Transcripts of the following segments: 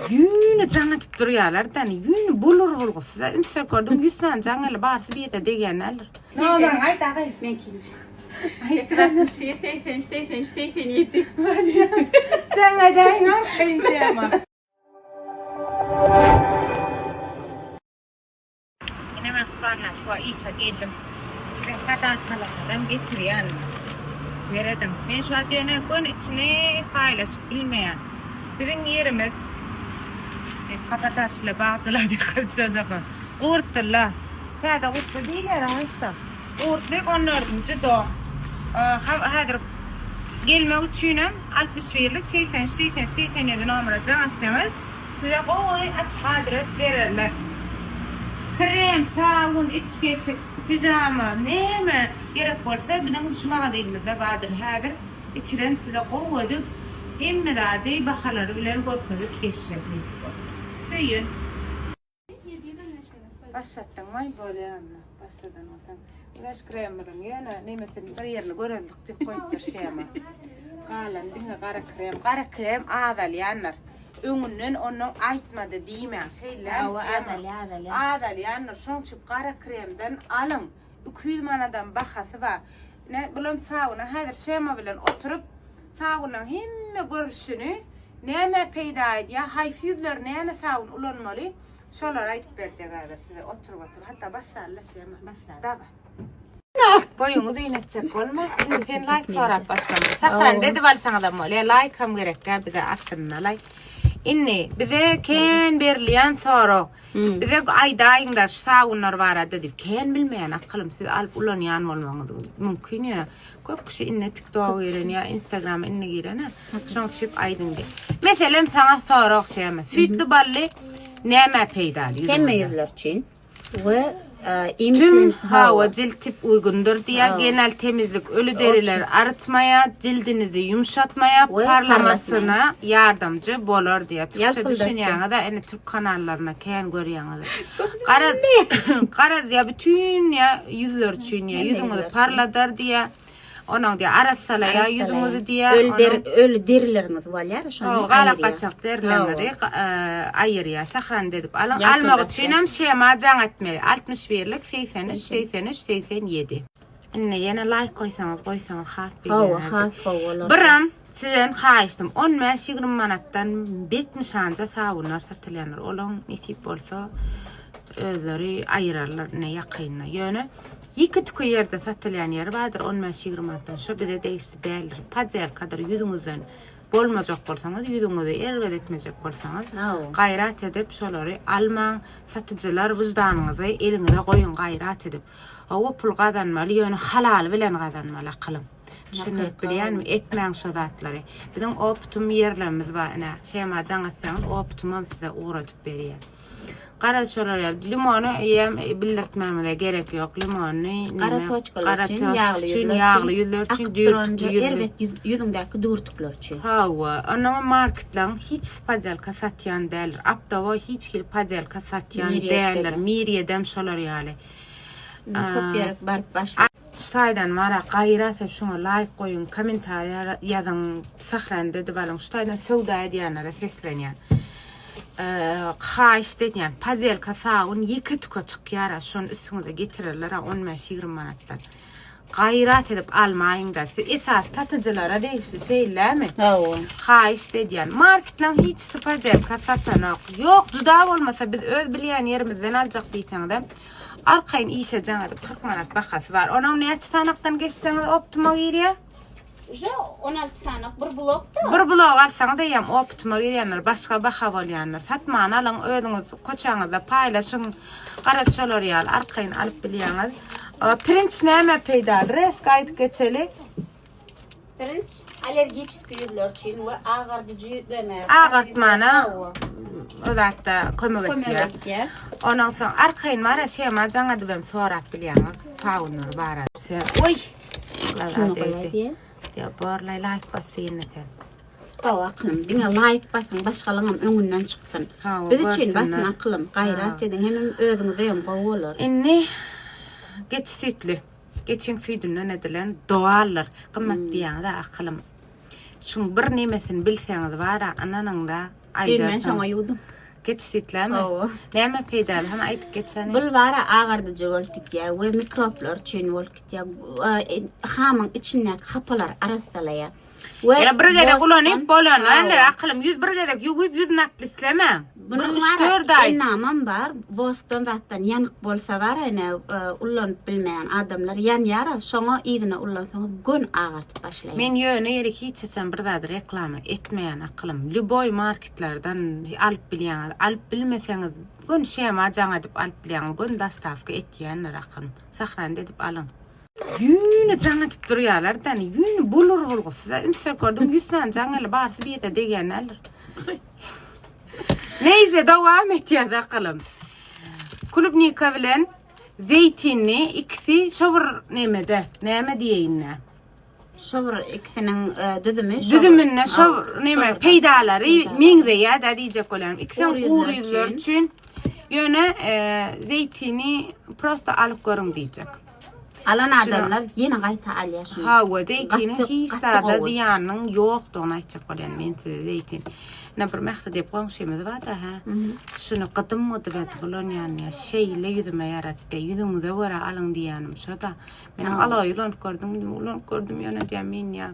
Ýüni jaň edip durýarlar da, ýüni bolur bolgusyz. Ünsek gördüm, ýüz sany jaň eli barsy bir ýere degýän däldir. Nomer aýt agaý, meňkini. Aýtdyk atmyş ýedi, segsen üç, segsen üç, segsen ýedi. Jaň edäýiň arkaýyn şema. Ine men şu barlag şu wagt işe geldim. Siziň hadatnalaryňyzam getirýärin. Serediň. Men şu wagt ýene göni içini paýlaşyp bilmeýän. Biziň ýerimiz Hep kapataş bile bagçylar diýip gyzjajak. Gurtdyla. Täze gurtdy diýilýär oňa işte. Gurtdyk on dördünji dom. Haw häzir gelmek üçinem altmyş birlik segsen üç segsen üç segsen ýedi nomera jaň etseňiz Size gowy açyk adres bererler. Krem, sabun, içgeşik, pijama, näme gerek bolsa biziň şu magazynymyzda bardyr. Häzir içiren size gowy edip hemme zady bahalary bilen görkezip geçjek nysip bolsa. Söýün. Başlatdyň maý bolýa onda. Başladan bolsa. Güneş kremimiň ýöne nemesini bir ýerini göreldik diýip goýupdyr şema. Galan diňe gara krem. Gara krem azalýandyr. Öňünden onu aýtmady diýmäň. Şeýle. Awa azalýa azalýa. Azalýandyr. Şoň üçin gara kremden alyň. Iki ýüz manadam bahasy bar. Ine, bulam sauna häzir Şemo bilen oturyp, saunyň hemme görnüşini, nämä peýda edýär, haýsy ýüzler näme saun ulanmaly, şolary aýdyp berjek häzir size oturyp-oturyp. Hatda başlanyla Şemo. Başla. Daway. Boýuňyz iýnetjek bolma. Indi sen laýk sorap başlama. Sahrany dedip alsaňyzam bolýar. Laýkam gerek däl bize aslynda laýk. Indi bize kän berilýän sorag. Bize aýdaýyňda şu sabunlar barada diýip. Kän bilmeýän akylym siz alyp ulanýan bolmaňyz mümkin ýöne köp kişi indi tiktoga giren ýa instagrama indi girene şoň üçip aýdyň diýip. Meselem saňa sorag şeme süýtli bally nämä peýdaly ýüzüňe? Hemme ýüzler üçin we Tüm hawa jilt tip uýgundyr diýýär. Genel temizlik öli derileri arytmaýar, jildinizi ýumşatmaýar, parlamasyna ýardamjy bolar diýýär. Türkçe düşünýäňiz-ä, indi türk kanallaryny kän görýäňiz. Garaz, garaz diýýär, bütin ýa ýüzler üçin diýýär, ýüzüňizi parladar diýýär. Onuň diýýär, arassalaýar ýüzüňizi diýýär. Öl der, öl derileriniz bolýar, şony. O galak gaçak derilerinizi aýyrýar. Sahrany edip alyň. Almak üçin hem şema jaň etmeli. 61 lik 83 83 87. Indi ýene laýk goýsaňyz, goýsaňyz has begenardik. Hawa, has gowy bolardy. Birim. Sizden haýyşdym on bäş ýigrimi manatdan bet nyşanja sabunlar satylýandyr olaň nesip bolsa özleri aýyrarlar ine ýakynda ýöne ýeke tüke ýerde satylýan ýeri bardyr on bäş ýigrimi manatdan şo bize degişli däldir podýelkadyr ýüzüňizden bolmajak bolsaňyz ýüzüňizi erbet etmejek bolsaňyz gaýrat edip şolary almaň satyjylar wyždanyňyzy eliňize goýuň gaýrat edip hawa pul gazanmaly ýöne halaly bilen gazanmaly akylym. Düşündirip bilýänmi? Etmäň şo zatlary. Biziň optum ýerlerimiz bar ine. Şema jaň etseňiz optumam size ugradyp berýär. Gara şolar ýaly. Limony ýem bildirtmämize gerek ýok. Limony Gara toçkalar üçin, ýagly ýüzler üçin, ýagly ýüzler üçin, düýrtükli ýüzler. Erbet ýüzüňdäki düýrtükler üçin. Hawa, onuň marketlaryň hiç podelka satýan däldir. Aptawa hiç hil podelka satýan däldir. Miriýedem şolar ýaly. Köp ýere baryp başlap. Şu taýdan Marak gaýra sen şuňa laýk goýuň komentariýa ýazyň sahran edip alyň şu taýdan söwda edýänlere seslenýän haýyşt edýän padelka sabun ýeke tüke çykýara şony üstüňize getirerlera on bäş ýigrimi manatdan gaýrat edip almaýyňda siz esas satyjylara degişli şeýlemi hawa haýyşt edýän marketlaň hiçsi padelka satanok ýok juda bolmasa biz öz bilýän ýerimizden aljak diýseňizem Arkaýyn işe jaň edip kyrk manat bahasy bar. Onuň näçe sanakdan geçseňiz optima girýär? Uje on alty sanak bir blokda. Bir blok alsaňyz eýýäm optima girýändir, başga baha bolýandyr. Satman alyň, özüňiz koçaňyzda paýlaşyň. Garaz şolar ýaly arkaýyn alyp bilýäňiz. Pirinç nämä peýdaly? Resk aýdyp geçeli. Pirinç allergiçki ýüzler üçin we agardyjy ýüzleme. Agartmana o zatda kömek etýär. Ondan soň arkaýyn bara şema jaňadyp hem sorap bilýäňiz. Saunlar bara. Oý. Şunu goýaýdy. Ýa borlaý laýk basýyn sen. Hawa aklym, diňe laýk basyň, başgalaňam öňünden çykdyn. Biz üçin basyň aklym, gaýrat ediň, hemem özüňize hem gowy bolar. Indi geçi süýtli. Geçiň süýdünden edilen doallar gymmat diýýäňiz-ä akylym. Şuň bir nemesini bilseňiz bar-a ynanyň-da aýdarsyň. Geýin men şoňa ýuwdum. Geç süýtlämi? Hawa. Näme peýdaly hany aýdyp geçäni. Bul bar-a agardyjy bolup gidýär we mikroblar üçin bolup gidýär. Hamyň içindäki hapalary arassalaýar. We Ya bir gezek ulanyp bolan, änder akylym ýüz bir gezek ýuwup ýüz nakli islemäň. Bunuň üç-dört aý. Namam bar. Woskdan zatdan ýanyk bolsa bar ene ulanyp bilmeýän adamlar ýanýar. Şoňa yzyna ulansaňyz gön agartyp başlaýar. Men ýöne ýeri hiç haçan bir zady reklama etmeýän akylym. Lýuboý marketlerden alyp bilýäňiz. Alyp bilmeseňiz gön şema jaň edip alyp bilýäňiz. Gön dostawka etýänler akylym. Sahranda edip alyň. Ýüni jaň edip durýarlar däni. Ýüni bolur bolgusyz. Ünsek gördüm 100 sany jaň eli barsy bir ýerde degýän däldir. Neyse dowam etýär bakalım. Kulubnika bilen zeytinli ikisi şo bir nemede. Näme diýeýin-nä? Şo bir ikisiniň e, düzümi şo Düzüminde bir- şo Aw, bir neme bir- peýdalary Peýdalary. meňzeýär-dä diýjek bolýarym. İkisi hem Gury ýüzler gury ýüzler üçin. üçin. Ýöne e, zeytini prosta alyp görüň diýjek. Alan adamlar ýene gaýta alýar şuny. Hawa, zeýtiniň hiç zada zyýanynyň ýokdugyny aýtjak bolýan men size zeýtin. Ýa bir Mähri diýip goňşymyz bar-da, hä? Şuny gydym gydyp edip ulanýan ýa şeýle ýüzüme ýaratdy. Ýüzüňize görä alyň diýýänim şo-da. Men alaý ulanyp gördüm, ulanyp gördüm ýöne diýýän men ýa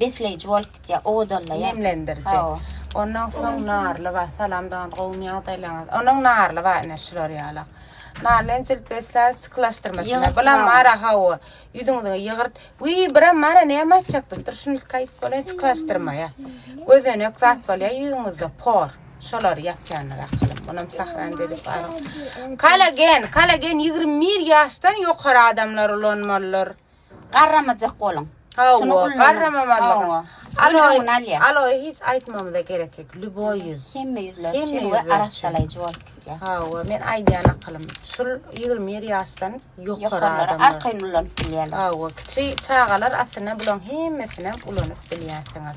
besleýji bolup gitýär, owadanlaýar. Nemlendiriji. Hawa. Ondan soň narly bar. Salam dogan, gowumy ýagdaýlaryňyz? Onuň narly bar ine şular ýalak. Narly hem jilt besleýär, sykylaşdyrma şular. Ýygyrt Bulam bar. bara hawa. Ýüzüňizi ýygyrt. Wiý, biram bara näme aýtjak diýip dur. Şuny ilki aýdyp bolaýyn, sykylaşdyrmaýa. Gözenek zat bolýar ýüzüňizde, por. Şolary ýapýandyr ahyryn. Munam Sahran dedi bar. Kollagen, kollagen ýigrimi bir ýaşdan ýokary adamlar ulanmalydyr. Garramajak boluň. Şuny ulanyň. Garramamazlygy. Aloe, aloe hiç aýtmamyza gerek ýok. Lýuboý ýüz. Hemme ýüzler üçin we arassalaýjy bolup gidýär. Hawa, men aýdýan akylym. Şul 21 ýaşdan ýokary adamlar. Arkaýyn ulanyp bilýärler. Hawa, kiçi çagalar aslynda bularyň hemmesini ulanyp bilýärsiňiz.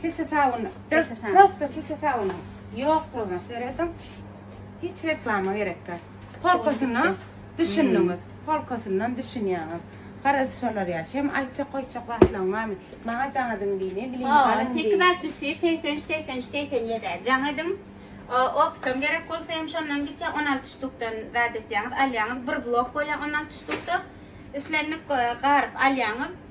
Kese sabun, prosto kese sabunu ýoklugyna serediň. Hiç reklama gerek ýok. Polkasyna düşündiňiz. Polkasyndan düşünýäňiz. Garaz şolar ýaly. Şem aýtjak goýjak zatlaryň barmy? Maňa jaň ediň diýme, bilim alyň diý. Sekiz altmyş bir, segsen üç, segsen üç, segsen ýedi-ä jaň ediň. Opytam gerek bolsa hem şondan gitýär, on alty ştukdan zat etýäňiz, alýaňyz. Bir blok bolýar on alty ştukda. Islendik garyp alýaňyz.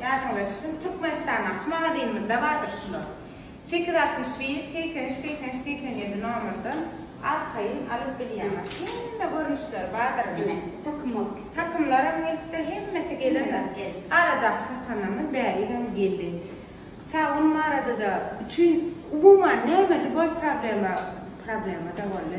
Ýadyňyza düşsün, Türkmenistanda aky magazynymyzda bardyr şular. Sekiz altmyş bir, segsen üç, segsen üç, segsen ýedi nomerden arkaýyn alyp bilýäňiz. Hemme görnüşleri bardyr indi. Ine, takym bolup gitdi. Takymlaram gelipdir, hemmesi gelendir. Aradaky satanlarymyz bärigem geldi. Sag boluň arada-da bütin, umuman näme lýuboý problema, problema-da boldy.